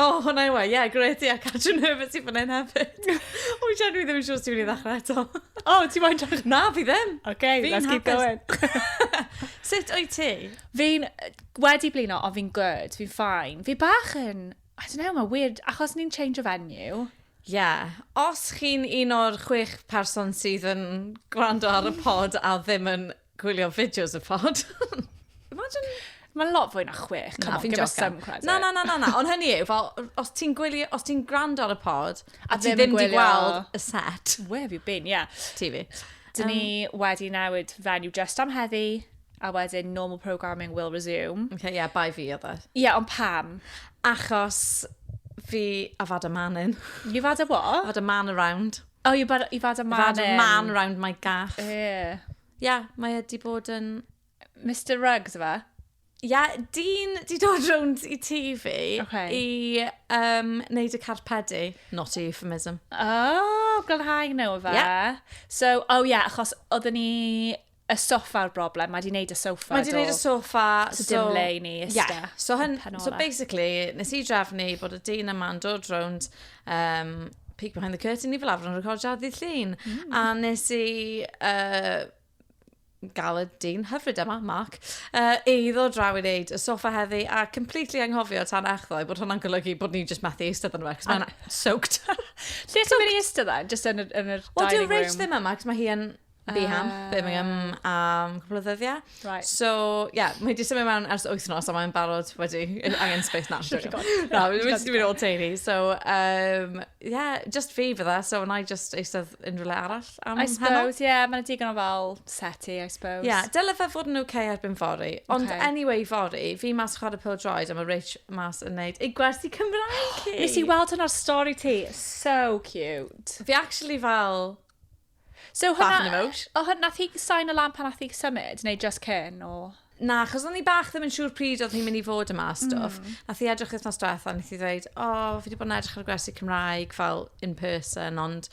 O, oh, hwnna i wa, ie, gret, ie, Catrin Herbert sy'n fan hyn hefyd. o, i siarad, dwi ddim yn siŵr sy'n mynd i ddechrau eto. o, oh, ti'n moyn ddechrau? Na, fi ddim. Oce, okay, let's keep going. Sut o'i ti? Fi'n wedi blino, ond fi'n good, fi'n ffain. Fi bach yn, I don't know, mae weird, achos ni'n change of venue. Ie, yeah. os chi'n un o'r chwech person sydd yn gwrando ar y pod a ddim yn Gwylio fideos y pod. Imagine... Mae'n lot fwy na chwech. Na, fi'n jocan. Na, na, na, na, na. Ond hynny yw, fel, os ti'n gwylio, os ti'n gwrando ar y pod, a ti ddim wedi gweld y set. Where have you been, yeah. Ti fi. Dyn ni um, wedi newid fenyw just am heddi, a wedyn normal programming will resume. Okay, yeah, bai fi oedd e. Ie, yeah, ond pam? Achos fi, I've had a man in. You've had a what? I've had a man around. Oh, you've had, you've had a man I've had a man round my gaff. Ie. Yeah. yeah, mae wedi bod yn... Mr Ruggs, yma? Ie, yeah, dyn di dod rownd i ti fi okay. i um, wneud y carpedu. Not a euphemism. Oh, glanhau nhw fe. Yeah. So, oh yeah, achos oedden ni Y soffa yw'r broblem, mae di wneud y soffa Mae di wneud y soffa, so... So dim le i ni ista. Yeah. So, hyn, so basically, nes i drefnu bod y dyn yma'n dod rownd um, peek behind the curtain i fel arfer yn recordio ddydd llun. Mm. A nes i uh, gael y dyn hyfryd yma, Mark, uh, i ddod draw i wneud y sofa heddi a completely anghofio tan echddo i bod hwnna'n golygu bod ni'n just methu eistedd yn rhaid, mae'n soaked. Lle ti'n mynd i eistedd dda? Just yn yr, yn yr well, dining room? Wel, dwi'n reit ddim yma, cos mae hi yn Be am? Uh, Birmingham am cwpl o ddyddiau. Right. So, ie, yeah, mae wedi symud mewn ers wythnos a mae'n barod wedi angen space na. na, mae wedi mynd o'r teulu. So, um, yeah, just fi fydda, so wna i just eistedd unrhyw le arall am I suppose, ie, yeah, mae'n digon o fel seti, I suppose. Ie, yeah, dylai fe fod yn oce okay erbyn fori. Ond okay. anyway, fori, fi mas chwarae pil droed a mae Rich mas yn neud ei gwersi Cymraeg. Nes i weld hwnna'r stori ti. So cute. Fi actually fel So hwnna... Bach yn emote. O hwn- nath hi sign o lan pan nath hi symud neu jyst cyn o? Na, achos o'n i bach ddim yn siŵr pryd oedd hi'n mynd i fod yma a stwff. Mm. Nath hi edrych wythnos diwetha, nath hi ddweud, o, oh, fi wedi bod yn edrych ar y gwersi Cymraeg fel in person, ond...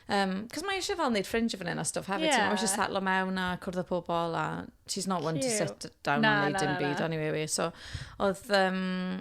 Um, Cos mae eisiau fel wneud ffringe o fan hyn a stwff hefyd. Yeah. Mae eisiau setlo mewn a cwrdd â pobl a she's not one Cute. to sit down na, and wneud dim byd anyway. So, oedd... Um,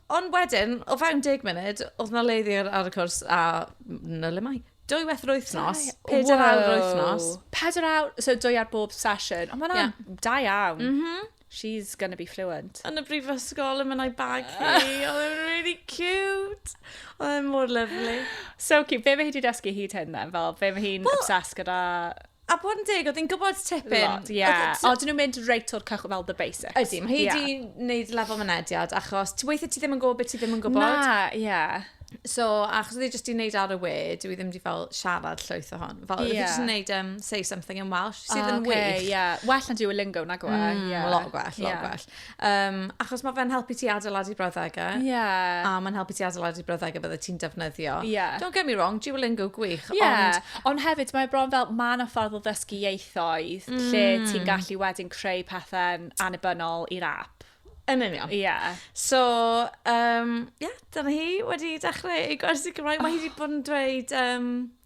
Ond wedyn, o fewn deg munud, oedd na le ddiar ar y cwrs a na le mai. Dwy weth yr wythnos, Dau- pedair awr yr wythnos. Wow. Pedair awr, so dwy ar bob sesiwn. Ond mae'n Ie. yeah. da iawn. Mhm. She's gonna be fluent. Yn y brifysgol, yn mynd a'i bag hi. Oedd e'n really cute. Oedd e'n mor lyflu. So cute. Be mae hi wedi dysgu hyd hyn then? Fel, be mae hi'n Wel- obsessed gyda? A bod yn deg, oedd hi'n gwybod tipyn. Lot, ie. O, dyn nhw'n mynd reit o'r cychwyn fel the basics. Ydy, mae hi wedi yeah. gwneud lefel mynediad, achos ti weithio ti ddim yn gwybod beth ti ddim yn gwybod. Na, ie. Yeah. So, achos oedd hi jyst i wneud ar y we, dwi ddim wedi fel siarad llwyth o hon. Fel, yeah. oedd hi jyst yn wneud um, say something in Welsh, sydd oh, yn okay, wych. Yeah. Well na Duolingo, na gwa. Mm, yeah. Lot gwell, lot yeah. gwell. Um, achos mae fe'n helpu ti adeiladu brawddegau. Ie. Yeah. A mae'n helpu ti adeiladu brawddegau bydde ti'n defnyddio. Ie. Yeah. Don't get me wrong, Duolingo gwych. Ie. Yeah. Ond... Ond hefyd, mae bron fel, mae yna ffordd o ddysgu ieithoedd mm. lle ti'n gallu wedyn creu pethau'n anibynnol i'r app. Yn union. Ie. Yeah. So, um, yeah, dyna hi wedi dechrau ei gwersi Cymraeg. Mae hi wedi bod yn dweud... Um,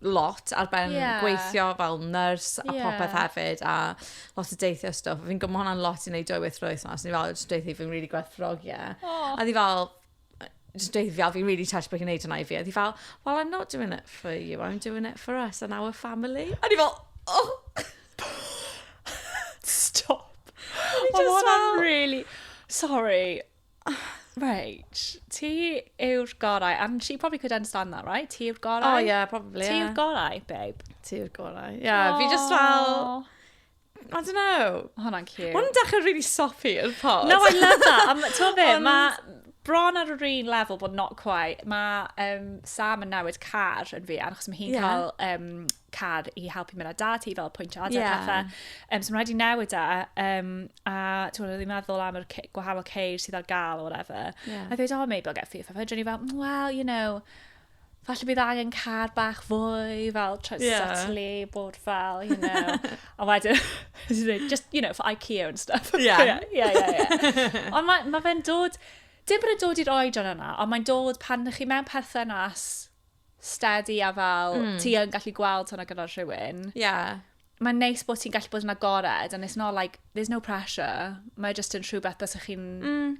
lot ar ben yeah. gweithio fel nurse a yeah. popeth hefyd a lot o deithio stuff. Fi'n gwybod hwnna'n lot i wneud dwy weith roedd yma. So ni fel, just deithi fi'n really gwerthfrog, ie. Oh. A ni fel, just deithi fi, fi'n really touched bod hi'n neud hwnna i fi. A ni fel, well, I'm not doing it for you, I'm doing it for us and our family. A ni fel, oh! Stop. Mae hwnna'n really... Sorry. Reit, ti yw'r gorau. And she probably could understand that, right? Ti yw'r gorau. Oh, yeah, probably, Ti yw'r yeah. gorau, babe. Ti yw'r gorau. Yeah, fi just fel... Aw. I don't know. Ma' hwnna'n cute. Mae'n dechrau really soppy yn pod. No, I love that. Um, to fe, Ond- mae bron ar yr un level, but not quite. Mae um, Sam yn newid car yn fi, achos mae hi'n Ie. cael um, car i helpu mynd â dad ti fel pwynt o adeg yeah. pethau. Um, so mae'n rhaid i newid e. Um, a ti'n meddwl, ddim meddwl am yr gwahanol ceir sydd ar gael o whatever. Yeah. A dweud, oh, maybe I'll get FIFA. Fe dyn ni fel, mm, well, you know, falle bydd angen car bach fwy, fel try yeah. subtly, bod fel, you know. a wedyn, just, you know, for IKEA and stuff. Yeah. yeah, yeah, yeah. Ond mae ma fe'n dod, dim bod yn dod i'r oedran yna, ond mae'n dod pan ydych chi mewn perthynas steady a fel, mm. ti yn gallu gweld hwnna gyda'r rhywun. Ie. Yeah. Mae'n neis bod ti'n gallu bod yn agored, and it's not like, there's no pressure. Mae just yn rhywbeth bys chi'n mm.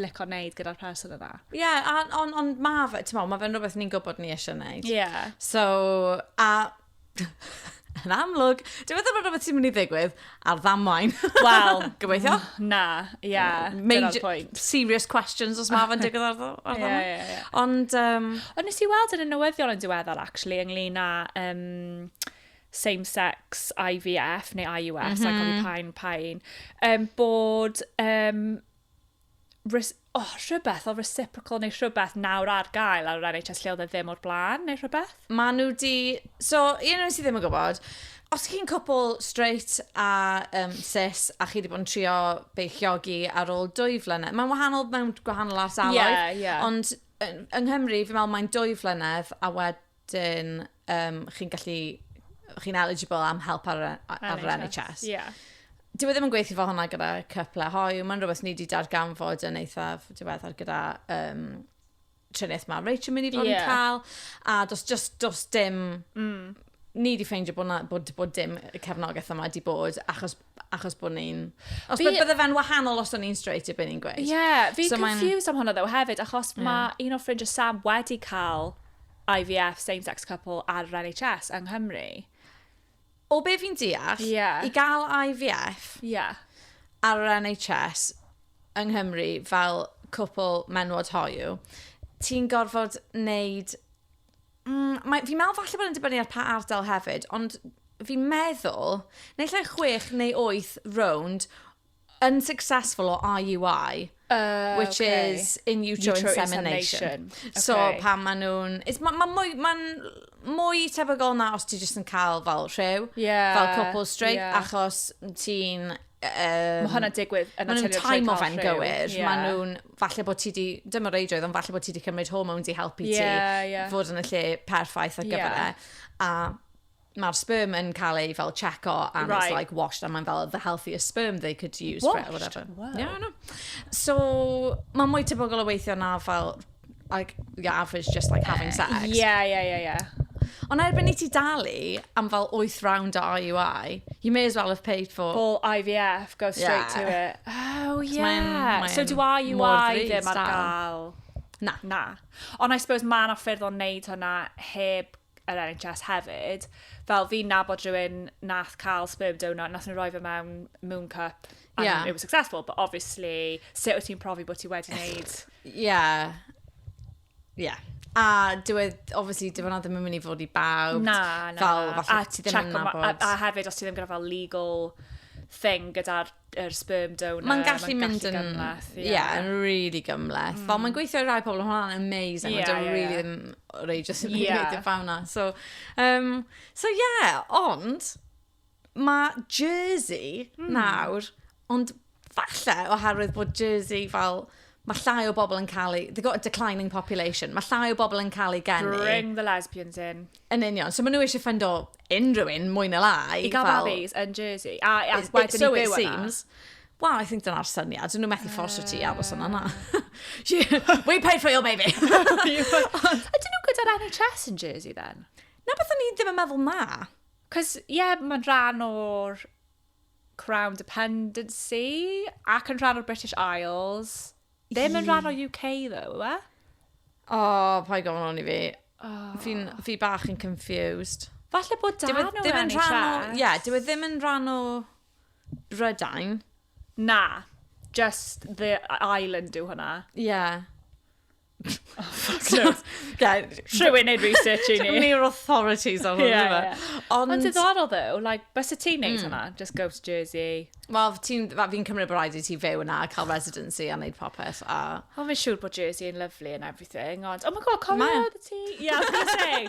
licio wneud gyda'r person yna. Ie, yeah, ond on, on, mae fe, ti'n meddwl, mae fe'n rhywbeth ni'n gwybod ni eisiau wneud. Ie. Yeah. So, a Yn amlwg, dwi'n meddwl bod rhywbeth sy'n mynd i ddigwydd ar ddamwain. Wel, gobeithio. Na, ie, yeah, dyna'r pwynt. Serious questions os mae fe'n digwydd ar ddamwain. Yeah, yeah, yeah. Ond... Um... Ond nes i weld yn y newyddion yn diweddar, actually, ynglyn â... Um, same-sex IVF neu IUS, mm -hmm. a cofio pa'n pa'n, um, bod um, res- oh, rhywbeth o reciprocal neu rhywbeth nawr ar gael ar yr NHS lle oedd e ddim o'r blaen neu rhywbeth. Ma' nhw di... So, un o'n sydd ddim yn gwybod, os chi'n cwpl straight a um, cis a chi wedi bod yn trio beichiogi ar ôl dwy flynedd, mae'n wahanol mewn gwahanol ardaloedd, yeah, yeah. ond yng Nghymru, fi'n meddwl mae'n dwy flynedd a wed Dyn, um, chi'n gallu, chi'n eligible am help ar, ar, ar NHS. NHS. Yeah. Dwi e ddim yn gweithio fo hwnna gyda cypla hoiw, mae'n rhywbeth ni wedi darganfod yn eithaf diweddar gyda um, triniaeth mae Rachel mynd i fod yeah. yn cael, a dos, just, dos dim mm ni wedi ffeindio bod, na, bod, bod dim cefnogaeth yma wedi bod, achos achos bod ni'n... Os fi... bydde fe'n wahanol os o'n ni'n straight i beth ni'n gweud. Ie, yeah, fi'n so confused am hwnna ddew hefyd, achos yeah. mae un o ffrindiau Sam wedi cael IVF same-sex couple ar yr NHS yng Nghymru. O be fi'n deall, yeah. i gael IVF yeah. ar yr NHS yng Nghymru fel cwpl menwod hoiw, ti'n gorfod wneud Mm, mae, fi'n meddwl falle bod yn dibynnu ar pa ardal hefyd, ond fi'n meddwl, neu lle chwech neu wyth rownd, yn successful o IUI, uh, which okay. is in utero, utero insemination. insemination. Okay. So pan maen nhw'n... Mae'n ma mwy, ma mwy tebygol na os ti jyst yn cael fel rhyw, yeah, fel cwpl straight, yeah. achos ti'n... Um, mae hwnna'n digwydd yn arteriol Mae nhw'n time of yn gywir. Yeah. Mae nhw'n... falle bod ti wedi, dim o reidrwydd, ond falle bod ti wedi cymryd hormones i helpu ti yeah, yeah. fod yn y lle perffaith ar gyfer yeah. e. A mae'r sperm yn cael ei fel checo and right. it's like washed and mae'n fel the healthiest sperm they could use washed? for it or whatever. Wow. Yeah, no. So, mae'n mwy tebygol o weithio na fel Like, your average just like having eh, sex. Ie, ie, ie, ie. Ond erbyn i ti dalu am fel 8 round o IUI, you may as well have paid for... Full IVF, go straight yeah. to it. Oh, yeah. Mae'n, mae'n so do IUI ddim ar gael? Na. Na. Ond I suppose mae yna ffyrdd o'n neud hwnna heb yr NHS hefyd, fel fi'n nabod rhywun nath cael sperm donor, nath nhw roi fe mewn moon cup, and yeah. it was successful, but obviously, sut wyt ti'n profi bod ti wedi wneud... Yeah. Yeah. A dywed, obviously, dywed na ddim yn mynd i fod i bawb. Na, na. Fel, falle ti ddim yn nabod. A, a hefyd, os ti ddim gyda fel legal thing gyda'r yr sperm donor. Mae'n gallu mynd yn... gymleth, ie. Yeah, yn really gymleth. Mm. Fel mae'n gweithio i rai pobl, hwnna'n amazing, yeah, ond yeah, really yeah. ddim rei just yn yeah. gwneud y fawn na. So, um, so yeah, ond mae Jersey mm. nawr, ond falle oherwydd bod Jersey fel mae llai o bobl yn cael ei... They've got a declining population. Mae llai o bobl yn cael ei geni. Bring the lesbians in. Yn union. So maen nhw eisiau ffyndo unrhyw un, mwy na lai. I gael fel... babis yn Jersey, a, a it, wedyn it, so i byw yna. Wel, I think dyna'r syniad. Dyn nhw methu fforsio ti aros yna na. We pay for your baby. Ydyn nhw gyda'r NHS yn Jersey then? Na beth o'n i ddim yn meddwl na. Cos, ie, yeah, mae'n rhan o'r Crown Dependency ac yn rhan o'r British Isles. Be mae'n rhan o UK ddo, yw e? O, paid gofyn hwn i fi. Fi'n, fi bach yn confused. Falle bod dan o ddim yn rhan o... Ie, yeah, dyw e ddim yn rhan o Brydain. Na, just the island yw hwnna. Ie. Yeah. Oh, fuck knows. Rhywun neud research i ni. Dwi'n neud authorities ar hwn yma. Ond diddorol ddo, like, bys y ti'n neud hmm. hwnna, just go to Jersey. Wel, fi'n cymryd bod rhaid i ti fyw yna, cael residency a neud popeth. A... O, fi'n siŵr bod Jersey yn lovely and everything, ond, oh my god, cofio oedd ti? Yeah, I was gonna say.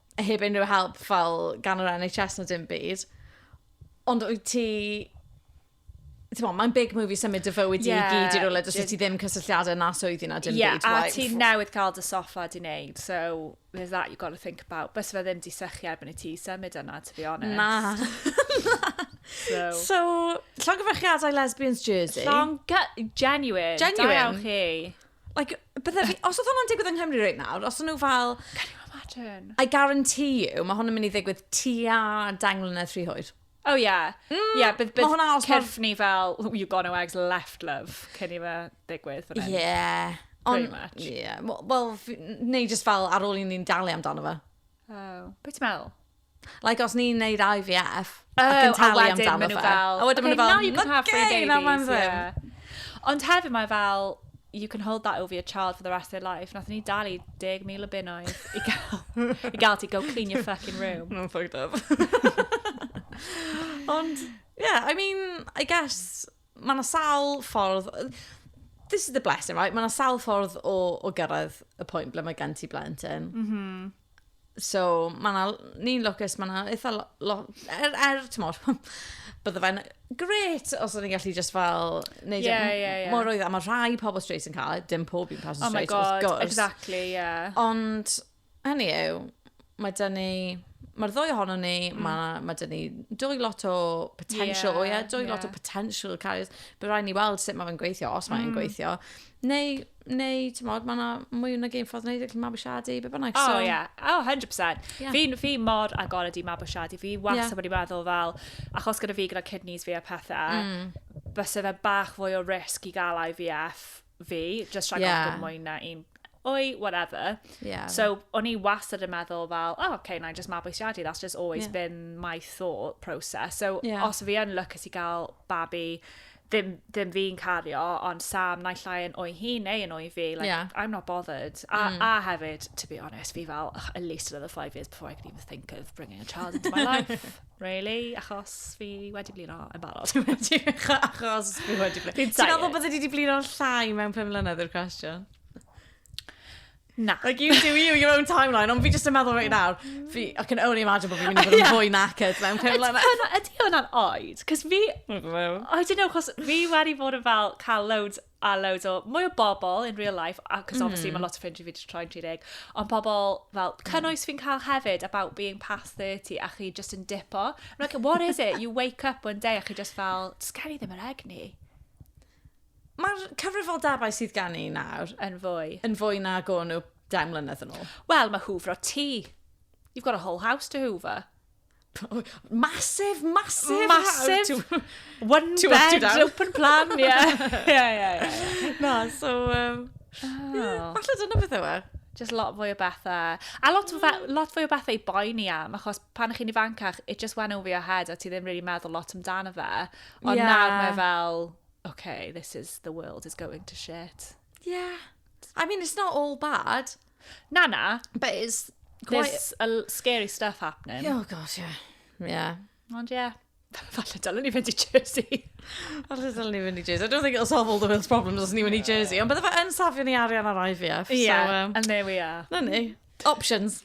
heb unrhyw help fel gan yr NHS na dim byd. Ond wyt ti... Mo, mae'n big movie symud dy fywyd yeah, i gyd i'r rhywle, dys ti ddim cysylltiadau na swyddi na dim yeah, byd. Ie, a ti newydd cael dy soffa di wneud, so there's that you got to think about. Bys fe ddim di sychu erbyn i ti symud yna, to be honest. Na. so, so llongyfarchiadau Lesbians Jersey. Llong... Genuine. Genuine. Da chi. Like, bydde fi, os oedd hwnna'n digwydd yng Nghymru right nawr, os oedd nhw fel... Can you imagine? I guarantee you, mae hwn yn mynd i ddigwydd tua deng mlynedd rhy hwyr. Oh yeah. Mm, yeah, bydd, bydd hwnna os cyrff ni fel, oh, you gone eggs left love, cyn i fe ddigwydd. Yeah. Pretty much. Yeah. Wel, neu just fel ar ôl i ni'n dalu amdano fe. Oh. Be ti'n meddwl? Like, os ni'n neud IVF, oh, ac yn talu am dan y fel... A wedyn maen nhw fel, okay, now you can have three babies. Yeah. Ond hefyd mae fel, you can hold that over your child for the rest of their life. Nath ni dalu 10,000 o bunnoedd i gael, i gael ti go clean your fucking room. No, fucked up. Ond, yeah, I mean, I guess, Mae yna sawl ffordd... This is the blessing, right? Mae yna sawl ffordd o, o gyrraedd y pwynt ble mae gen ti blentyn. Mm -hmm. So, mae yna... Ni'n lwcus, mae yna eitha... Lo, lo, er, er, ti'n mor... Bydde fe'n gret os o'n i'n gallu just fel... Neud yeah, yeah, yeah. Mor oedd, a mae rhai pobl straight yn cael, e, dim pob un person oh straight, wrth gwrs. Oh my god, exactly, yeah. Ond Hynny yw, mae dyn ni... Mae'r ddwy ohono ni, mm. mae, mae dyn ni dwy lot o potential, yeah, ie, yeah, dwy yeah. lot o potential carriers. Bydd rhaid ni weld sut mae fe'n gweithio, os mae'n mm. gweithio. Neu, neu, ti'n modd, mae yna mwy o'n gêm ffordd wneud allan mabwysiadu, be bynnag. Oh, ie. Yeah. Oh, 100%. Yeah. Fi, fi mor agored i mabwysiadu. Fi was yeah. wedi meddwl fel, achos gyda fi gyda kidneys fi a pethau, mm. bysa fe bach fwy o risg i gael IVF fi, just rhag yeah. ofn mwy na un oi, whatever. Yeah. So, o'n i wastad yn meddwl fel, oh, okay, na i just mabwysiadu, that's just always yeah. been my thought process. So, yeah. os fi yn lwcus i gael babi, ddim, ddim fi'n cario, ond Sam naill ai yn o'i hun neu yn o'i fi, like, yeah. I'm not bothered. A, mm. a hefyd, to be honest, fi fel, at least another five years before I could even think of bringing a child into my life. Really? Achos fi wedi blino yn barod. Achos fi wedi blino. Ti'n meddwl bod wedi blino llai mewn 5 mlynedd i'r cwestiwn? Na. Like, you do you, your own timeline, ond fi jyst yn meddwl right nawr, fi, I can only imagine bod fi'n mynd i fod yn fwy knackered mewn pum mlynedd. Ydy hwnna'n oed? Cos fi, I don't know, cos fi wedi bod yn fel cael loads a loads o, mwy o bobl in real life, a cos mm. obviously mae lot o ffrindiau fi wedi troi'n 30, ond pobl fel mm. cynnwys fi'n cael hefyd about being past 30 a chi just yn dipo. I'm like, what is it? You wake up one day a chi just fel, just gen i ddim yr egni. Mae'r cyfrifoldebau sydd gen i nawr yn fwy. Yn fwy na go nhw 10 mlynedd yn ôl. Wel, mae hwfro ti. You've got a whole house to hoover. Massive, massive Massive, house. one two bed, up, open plan, ie. Yeah. yeah, yeah, yeah. Na, so... Um, oh. yeah, falle dyna beth yw e. Just lot fwy o bethau. A lot, mm. fe, lot fwy o bethau i boi ni am, achos pan chi'n ifancach, it just went over your head, a ti ddim really meddwl lot amdano fe. Ond yeah. nawr mae fel, okay, this is, the world is going to shit. Yeah. I mean, it's not all bad. Na, na. But it's quite... There's a l- scary stuff happening. Oh, gosh, yeah. Yeah. Ond ie. Yeah. Falle dylen ni fynd i Jersey. Falle dylen ni fynd i Jersey. I don't think it'll solve all the world's problems os ni fynd i Jersey. Ond bydde fe yn safio ni arian ar IVF. Yeah, so, um, and there we are. Na ni. Options.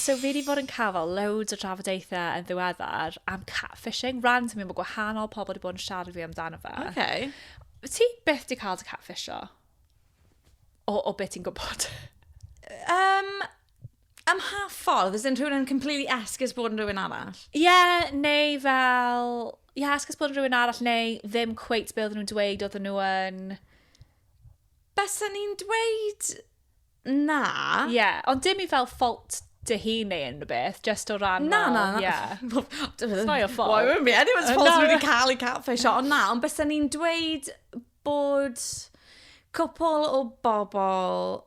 So fi 'di bod yn cael fel loads o drafodaethau yn ddiweddar am catfishing, randomly mae gwahanol pobl 'di bod yn siarad fi amdano fe. Okay. Ti byth 'di cael dy catfisho? O, o beth ti'n gwybod? Um, Ym mha ffordd? As in rhywun yn completely esgus bod yn rhywun arall? Ie, yeah, neu fel... Ie, yeah, esgus bod yn rhywun arall, neu ddim cweit be oedden nhw'n dweud oedden nhw yn... Bysa ni'n dweud na. Ie, yeah, ond dim i fel fault dy hun neu unrhyw beth, just o ran na, fel... Na, na, na. Yeah. It's not your fault. Why would be anyone's fault no. wedi cael ei catfish o. Ond na, ond bysa ni'n dweud bod cwpl o bobl,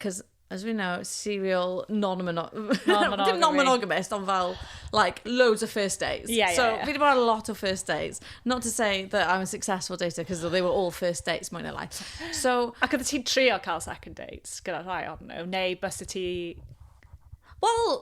cos as we know, serial non-mono... Non-monogamous. Dim non-monogamous, ond fel, like, loads of first dates. Yeah, yeah, so, yeah. fi wedi bod ar lot o first dates. Not to say that I'm a successful dater, because they were all first dates, mwyn lai. So... Ac oedd ti'n trio cael second dates gyda rhai o'n nhw? Neu bys y ti... Wel,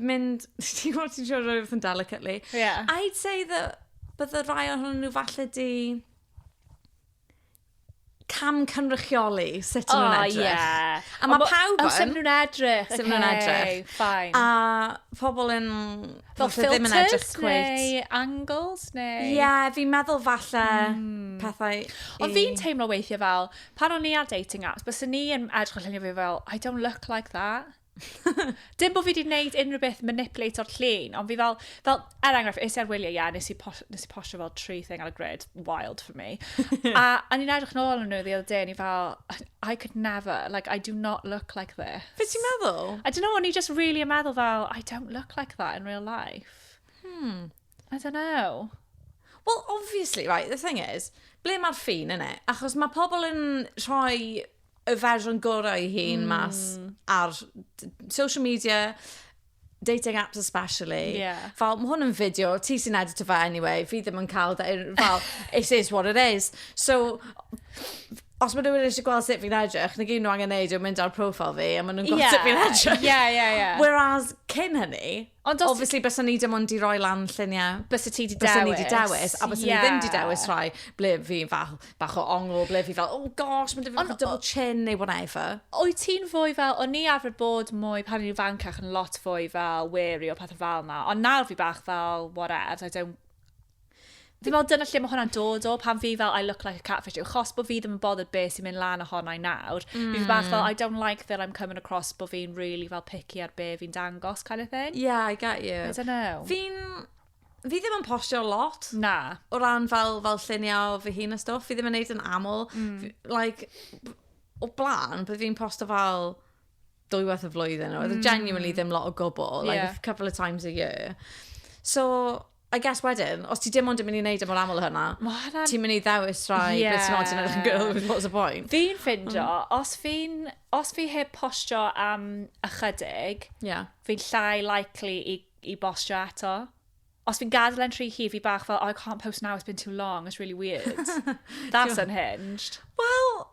mynd... Ti'n gwybod ti'n siarad rhywbeth yn delicately. Yeah. I'd say that bydde rhai ohonyn nhw falle di cam cynrychioli sut oh, nhw'n edrych. Yeah. A mae pawb yn... Sut nhw'n edrych. Sut nhw'n edrych. Fine. A pobl yn... Fel filters neu angles neu... Ie, yeah, fi'n meddwl falle mm. pethau... Ond fi'n teimlo weithiau fel, pan o'n i ar dating apps, bys ni yn edrych allan i fi fel, I don't look like that. Dim bod fi wedi gwneud unrhyw beth manipulate o'r llun, ond fi fel, fel er enghraifft, es i ar wyliau, ie, yeah, nes i, pos, nes i postio fel tree thing ar y grid, wild for me. a, a ni'n edrych nôl yn nhw the other day, ni fel, I could never, like, I do not look like this. Fe ti'n meddwl? I don't know, o'n i just really yn meddwl fel, I don't look like that in real life. Hmm. I don't know. Well, obviously, right, the thing is, ble mae'r ffin yn e? Achos mae pobl yn rhoi y fersiwn gorau i hun mm. mas ar social media, dating apps especially. Yeah. Fel, mae hwn yn fideo, ti sy'n edit o fe anyway, fi ddim yn cael, fel, it is what it is. So, os mae rhywun eisiau gweld sut fi'n edrych, na gyd nhw angen neud yw mynd ar profile fi a maen nhw'n gweld yeah. sut fi'n edrych. Yeah, yeah, yeah. Whereas, cyn hynny, Ond os... Obviously, bysen ni dim ond i roi lan lluniau. Bysen ti di dewis. Bysen ni di dewis, a bysen yeah. ni ddim di dewis rhai ble fi fel bach o ongl, ble fi fel, oh gosh, mae'n dweud double chin neu whatever. O'i ti'n fwy fel, o'n ni arfer bod mwy pan i'n fancach yn lot fwy fel wary o pethau fel na, ond nawr fi bach fel, whatever, I don't Fi'n meddwl dyna lle mae hwnna'n dod o, pan fi fel I look like a catfish, yw chos bod fi ddim yn bothered be sy'n mynd lan ohona i nawr. Mm. Fi bach fel, I don't like that I'm coming across bod fi'n really fel picky ar be fi'n dangos kind of thing. Yeah, I get you. I don't know. Fi'n... Fi ddim yn postio lot. Na. O ran fel, fel lluniau fy hun a stwff, fi ddim yn neud yn aml. Mm. Like, o blaen, bydd fi'n postio fel dwywaith y flwyddyn. Mm. Oedd genuinely ddim lot o gwbl. Like, yeah. a couple of times a year. So, I guess wedyn, os ti dim ond yn mynd i wneud e mor aml hynna, ti'n mynd i ddewis rhai yeah. beth sy'n oed yn edrych yn girl, what's the point? Fi'n ffindio, mm. os fi'n, os fi heb postio am ychydig, yeah. fi'n llai likely i, i bostio eto. Os fi'n gadael yn rhy hi, fi bach fel, oh, I can't post now, it's been too long, it's really weird. That's unhinged. Well,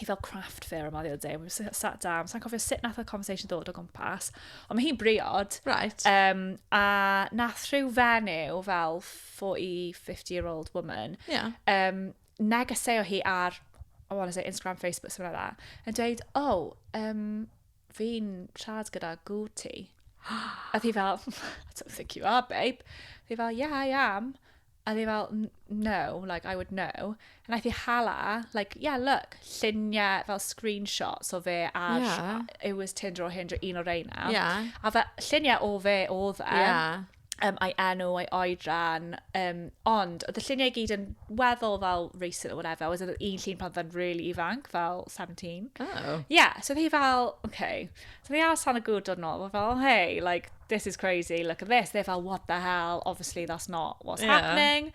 i fel craft fair yma ddiwedd day. We sat down. Sa'n cofio sut nath y conversation ddod o gwmpas. Ond mae hi'n briod. Right. Um, a nath rhyw fenyw fel 40, 50 year old woman. Yeah. Um, negeseo hi ar, I want to say Instagram, Facebook, something like that. Yn dweud, oh, um, fi'n siarad gyda Guti. a thi fel, I don't think you are, babe. Thi fel, yeah, I am. A oedd hi fel, n- no, like, I would know. A wnaeth hi hala, like, yeah, look, lluniau fel screenshots o fe ar... Ie. It was Tinder or Hinder, un o'r reina. Ie. A fe, lluniau o fe oedd e. Ie. Um, a'i enw, a'i oedran. Um, ond, oedd y lluniau i gyd yn weddol fel recent or whatever. Oedd un llun pan oedd e'n really ifanc, fel 17. Oh. Yeah, so oedd hi fel, okay. So fi allan y gŵr dod nôl, fel, oh, hey, like, this is crazy, look at this. They're fel, what the hell, obviously that's not what's yeah. happening.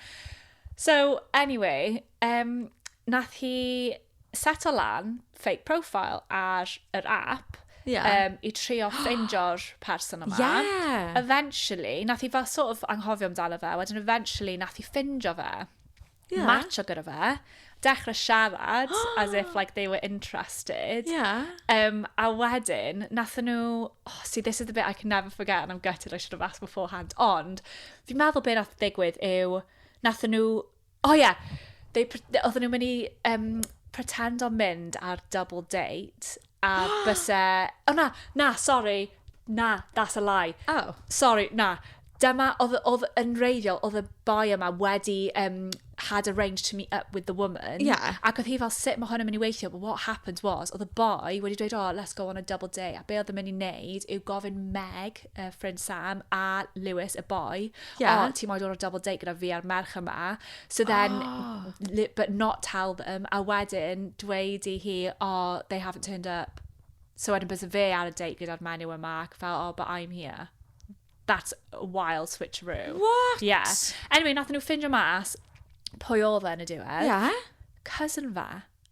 So, anyway, um, nath hi set o lan fake profile ar yr app yeah. um, i trio ffeindio'r person yma. Yeah. Eventually, nath hi fel sort of anghofio amdano fe, wedyn eventually nath hi ffindio fe. yeah. matcho gyda fe, dechrau siarad as if like they were interested. Yeah. Um, a wedyn, nathyn nhw, oh, see, this is the bit I can never forget and I'm gutted I should have asked beforehand, ond fi'n meddwl beth nath ddigwydd yw, nathyn nhw, oh yeah, they, oedden nhw'n mynd i um, pretend o'n mynd ar double date. A byse... O na, na, sori, na, that's a lie. O! Sori, na. Dyma, oedd, oedd yn wreiddiol, oedd y boi yma wedi yym had arranged to meet up with the woman... Ie. ...ac oedd hi fel, sut mae hwn yn mynd i weithio? But what happened was, oedd y boi wedi dweud, oh, let's go on a double date, a be oedd e'n mynd i wneud yw gofyn Meg... uh, ffrind Sam a Lewis, y boi, yeah. oh, ti'n moyn dod o'r double date gyda fi a'r merch yma. So then, oh. but not tell them, a wedyn dweud i hi, oh, they haven't turned up. So wedyn bys fe ar y date gyda'r menyw yma, ac fel, oh, but I'm here. That's a wild switcheroo. What? Yeah. Anyway, nath nhw ffindio mas pwy oedd e yn y diwedd. Yeah. Cousin fa.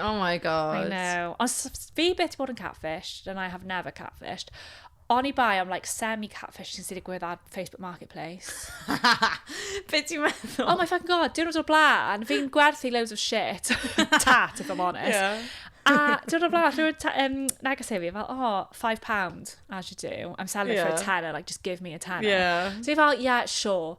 Oh my god. I know. Ond fi beth i bod yn catfish, and I have never catfished. O'n i bai am like semi-catfish sy'n sy'n digwydd ar Facebook Marketplace. Be ti'n meddwl? Oh my fucking god, diwrnod o'r blaen, fi'n gwerthu loads of shit. Tat, if I'm honest. Yeah. a diwrnod o'r blaen, rhywun um, neges i fi, fel, oh, five pound, as you do. I'm selling yeah. it for a tenner, like, just give me a tenner. Yeah. So i fel, yeah, sure.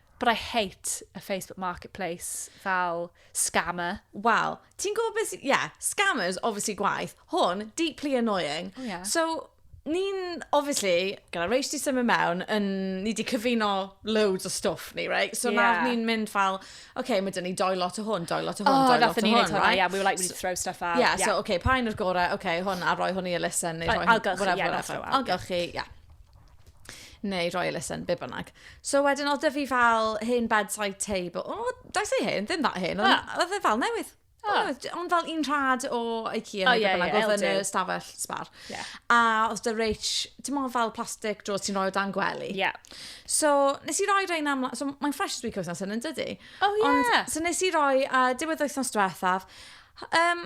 But I hate a Facebook marketplace fel scammer. Wel, ti'n gwybod beth... Ie, yeah, scammers, obviously gwaith. Hwn, deeply annoying. Oh, yeah. So, ni'n, obviously, gyda Rach di symud mewn, yn, ni di cyfuno loads o stwff ni, right? So yeah. nawr ni'n mynd fel, okay, mae dyn ni doi lot o hwn, doi lot o hwn, oh, doi lot o hwn, right? Yeah, we were like, we need to throw stuff out. Yeah, yeah. so, okay, pa un o'r gorau, okay, hwn, a roi hwn i Alyssa, neu roi hwn, whatever, whatever. Algylchu, yeah. neu roi elusen, be bynnag. So wedyn oedd dy fi fel hen bedside table. O, oh, dau say hen, ddim that hen, ah. oedd e fel newydd. Oh. Ond fel un rhad o IKEA oh, neu yeah, bynnag, yeah, oedd yn y stafell sbar. Yeah. A oedd dy reich, dim ond fel plastic dros ti'n rhoi o dan gwely. Yeah. So, nes i roi rhain am... So, mae'n fresh week wythnos yn yn dydy. Oh, yeah. Ond, so nes i roi, a uh, diwedd wythnos diwethaf, um,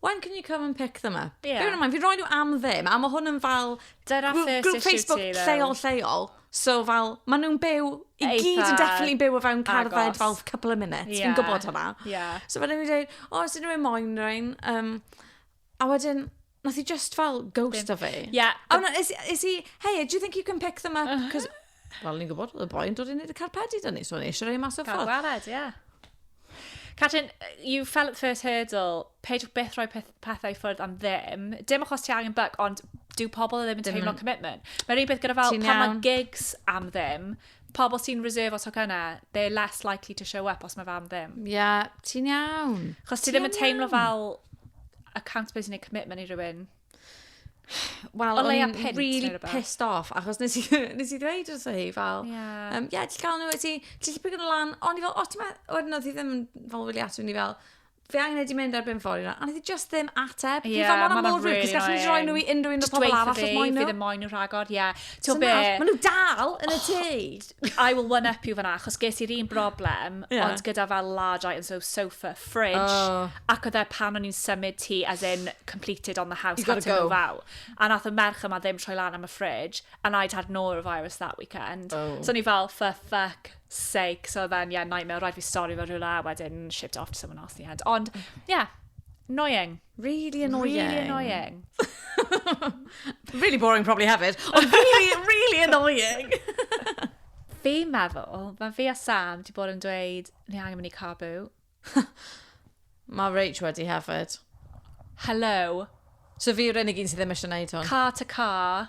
When can you come and pick them up? Ie. Bearing in mind, fi'n rhoi nhw am ddim, a mae hwn yn fel... Dyna grŵp- first grŵp issue Facebook ti, though. lleol, lleol. So fel, ma' nhw'n byw, i Eitha gyd yn definitely byw o fewn cerdded agos. fel couple of minutes. Ie. Fi'n gwybod hwnna. Ie. So wedyn fi'n dweud, o, os unrhyw un moyn rhywun. Um, a wedyn, nath i just fel ghost o fi. Ie. A wedyn, is, is he, hey, do you think you can pick them up? Cos Wel, ni'n gwybod, oedd y boi yn dod i wneud y carpedi dyn ni, so ni eisiau rhoi mas o ffordd. Gwared, ie. Yeah. Catrin, you fell at the first hurdle, peidiwch beth rhoi peth, pethau ffwrdd am ddim. Dim achos ti angen buck, ond dyw pobl e ddim yn teimlo commitment. Mae'r un peth gyda fel, pan mae gigs am ddim, pobl sy'n reserve o tocynnau, they're less likely to show up os mae fe am ddim. Ie, yeah, ti'n iawn. Chos ti ddim yn teimlo fel accountability neu commitment i rhywun. Wel, o'n i'n really pissed off, achos nes i, nes i ddweud wrth hi, fel, ie, yeah. um, yeah, ti'n cael nhw, ti, ti'n llipig yn y lan, ond i fel, o, ti'n meddwl, wedyn oedd hi ddim fel wylio ato ni fel, fe angen wedi mynd ar bum ffordd yna, ond oedd hi just ddim ateb. Ie, yeah, mae'n mor rwydd, cos gallen ni roi nhw i unrhyw un o'r pobol arall os moen nhw. Just dweud nhw, fi ddim moen nhw rhagor, ie. Ti'n be? Mae nhw dal yn y tŷ. I will one up you fanna, achos ges i'r un broblem, yeah. ond gyda fel large items, so sofa, fridge, oh. ac oedd e pan o'n i'n symud ti, as in completed on the house, you had to go. move out. A nath y merch yma ddim troi lan am y fridge, and I'd had norovirus that weekend. Oh. So ni fel, for fuck sake, so then, yeah, nightmare, rhaid fi stori fo rhywle, wedyn shipped off to someone else in the end. Ond, yeah, annoying. Really annoying. Really annoying. really boring probably hefyd, ond really, really annoying. Fi'n meddwl, mae fi a Sam di bod yn dweud, ni angen mynd i Cabu. mae Rach wedi hefyd. Hello. So fi yw'r unig un sydd ddim eisiau gwneud hwn. Car to car.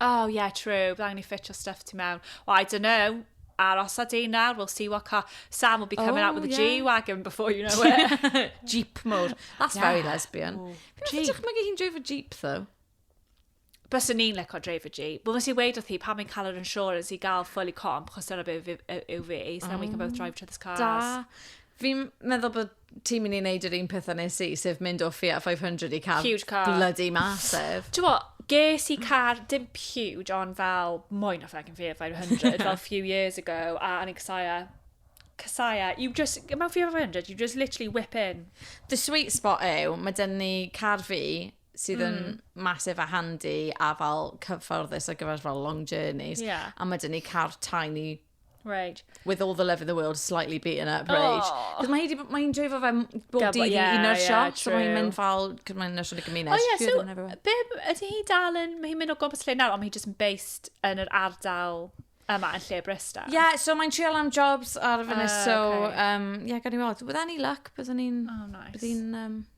Oh yeah, true. Bydd angen i ffitio stuff ti mewn. Well, I don't know. Aros a di nawr, we'll see what car... Sam will be coming oh, out with a yeah. G-Wagon before you know it. Jeep mode. That's yeah. very lesbian. Ooh, Jeep. Dwi'n meddwl hi'n dreif o Jeep, though. Bys yn ni'n leco dreif o Jeep. Wel, nes i weid o thi, pan mae'n cael yr insurance i gael fully comp, chos dyna beth yw fi, so oh, we can both drive each other's cars. Da. Fi'n meddwl bod ti'n mynd i wneud yr un peth a nes i, sef mynd o Fiat 500 i car... Huge car. ...bloody massive. Ti'n mo, ges i car, dim huge, ond fel mwy na ffragyn Fiat 500, fel few years ago, a o'n i'n casau Casaya, e. you just, mewn Fiat 500, you just literally whip in. The sweet spot yw, mae dyn ni car fi, sydd yn mm. massive a handy a fel cyfforddus ar gyfer fel long journeys. Yeah. A mae dyn ni car tiny Right. With all the love in the world, slightly beaten up, oh. right? Oh. Cos mae hi'n ma hi dreifo fe bob dydd i yeah, un o'r yeah, siop, so mae hi'n mynd fel, cos mae'n nyrsio yn y gymuned. Oh yeah, so, be, ydy hi dal yn, mae hi'n mynd o gobos lle nawr, ond mae hi just yn based yn yr ardal yma yn lle Bristol. Ie, yeah, so mae'n trial am jobs ar y fyny, uh, so, okay. um, yeah, gan i weld. With any luck, byddwn ni'n... Oh, nice. Byddwn ni'n... Um,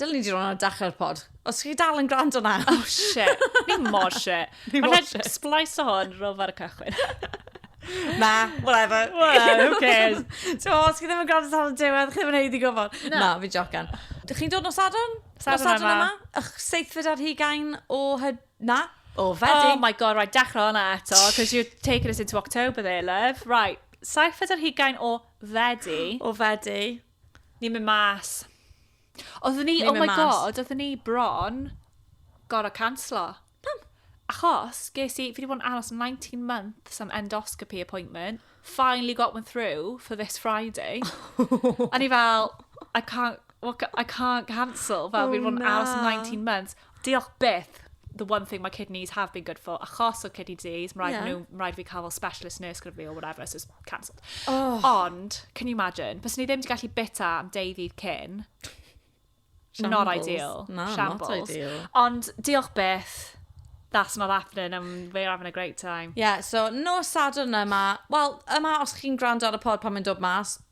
Dylen ni 'di roi hwnna ar dachrau'r pod. Os chi dal yn gwrando na. Oh shit, ni mor shit. Ni mor shit. Mae'n splice o hwn rof ar y cychwyn. na, whatever. Well, who cares? so, os chi ddim yn gwrando tan y diwedd, chi ddim yn heiddi gofod. Na. na, fi jocan. Dych chi'n dod nos Sadwrn? Sadwrn, Sadwrn yma. Ych seithfed ar hugain o hyd... Na? O, fedi. Oh my god, right, dechrau hwnna eto, because you're taking us into October there, love. Right, seithfed ar hugain o fedi. O fedi. Ni'n mynd mas. Oedden ni, oh my god, oedden ni bron gorau canslo. Pam? Achos, ges i, fi wedi bod yn aros 19 months am endoscopy appointment, finally got one through for this Friday. a ni fel, I can't, I can't cancel, fel oh, fi wedi bod yn aros 19 months. Diolch byth! The one thing my kidneys have been good for, achos o kidney disease, mae'n rhaid yeah. nhw, mae'n rhaid fi cael fel specialist nurse gyda fi or whatever, so it's cancelled. Oh. Ond, can you imagine, bys ni ddim wedi gallu bita am deu ddydd cyn. Shambles. Not ideal. No, Shambles. not ideal. Ond, diolch byth. That's not happening and we're having a great time. Yeah, so no Sadwrn yma. Wel, yma os chi'n gwrando ar y pod pan mae'n dod mas,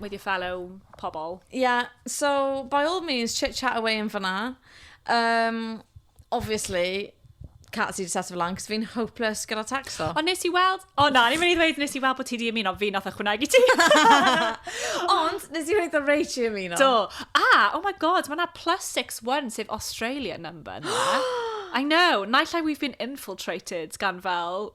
with your fellow pobl. Yeah, so by all means, chit chat away yn fyna. Um, obviously, Cat sydd wedi set fy lan, cos fi'n hopeless gyda tacso. Ond nes i weld... O na, ni'n mynd i ddweud nes i weld bod ti di ymuno, fi nath ychwanegu ti. Ond nes i wneud o reit i ymuno. Do. Ah, oh my god, mae yna plus 61 sef Australia number na. I know, naill ai we've been infiltrated gan fel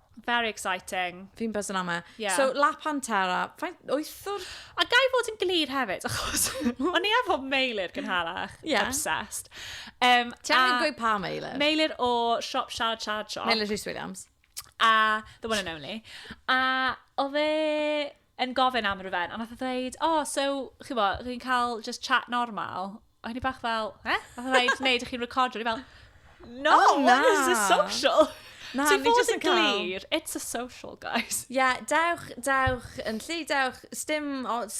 Very exciting. Fi'n buzz yn am e. Yeah. So, La Pantera, faint, wyth o'r... A gai fod yn glir hefyd, achos o'n i efo meilir gynharach, yeah. obsessed. Um, Ti angen gweud pa meilir? Meilir o Shop Shard Shard Shop. Meilir Rhys Williams. A The One and Only. A oedd e... yn gofyn am ryfen, a nath o ddeud, o, oh, so, chi bo, chi'n cael just chat normal? A hynny bach fel, eh? A hynny bach, neu, ydych chi'n recordio? Ni fel, no, oh, na. what is this social? Na, so ni just yn glir, it's a social, guys. Ie, yeah, dewch, dewch yn lli, dewch, stym os,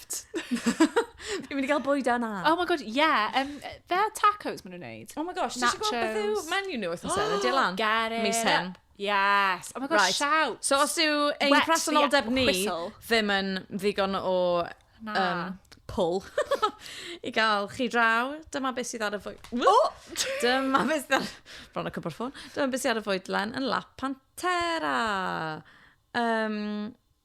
Fi'n mynd i gael bwyd yna. Oh my god, yeah. Um, fe tacos maen nhw'n neud. Oh my gosh, ti'n gwybod beth yw Nachos. menu nhw wythnos yna? Diolch lan. Get it Mis hyn. up. Yes. Oh my god, Right. shout. So os yw ein Wet presenoldeb the ni whistle. ddim yn ddigon o Na. um, pull i gael chi draw, dyma beth sydd ar y fwyd. Dyma beth sydd ar... Bron y cwbr ffôn. Dyma beth sydd ar y fwydlen yn La Pantera. Um,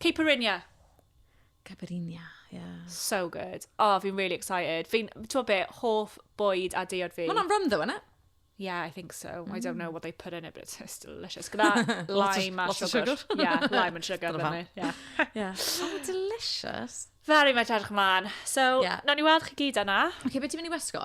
Caipirinha! Caipirinha, ie. So good. O, oh, fi'n really excited. Fi'n, ti'n be, hoff bwyd a deiod fi. Mae hwnna'n rum, ddo, yna? Yeah, I think so. Mm. I don't know what they put in it, but it's, it's delicious. Gyda lime a sugar. sugar. yeah, lime and sugar. Dyna yeah. yeah. Oh, delicious. Very much edrych ymlaen. So, yeah. nawn ni weld chi gyd yna. Oce, okay, beth ti'n mynd i wisgo?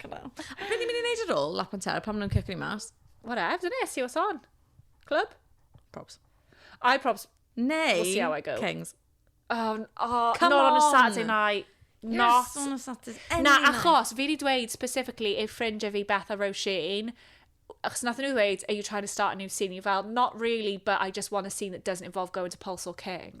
Cyfan. Be ni'n mynd i wneud ar ôl lap and terra pan maen nhw'n cicio ni mas? Whatever, dyn ni, see what's on. Club? Probs. I probs. Neu, We'll see how I go. Kings. Oh, n- oh, Come not on a on. Saturday night. Not. Yes, on a Saturday. Any Na, night. achos fi wedi dweud specifically ei ffrindiau fi Beth a Roisin, achos nath nhw ddweud, are you trying to start a new scene? I fel, not really, but I just want a scene that doesn't involve going to Pulse or King.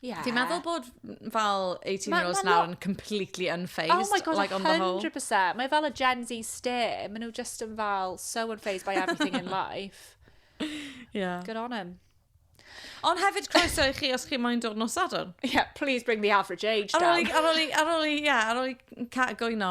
Yeah. Ti'n meddwl bod fel 18 year olds nawr yn completely unfazed? Oh my god, like, 100%. Mae fel y Gen Z stare. Mae nhw just yn fel so unfazed by everything in life. Yeah. Good on him. Ond hefyd croeso i chi os chi moyn dod nos sadwrn. Yeah, please bring the average age down. Ar ôl i, ar ôl i, yeah, ar ôl i cat gwyno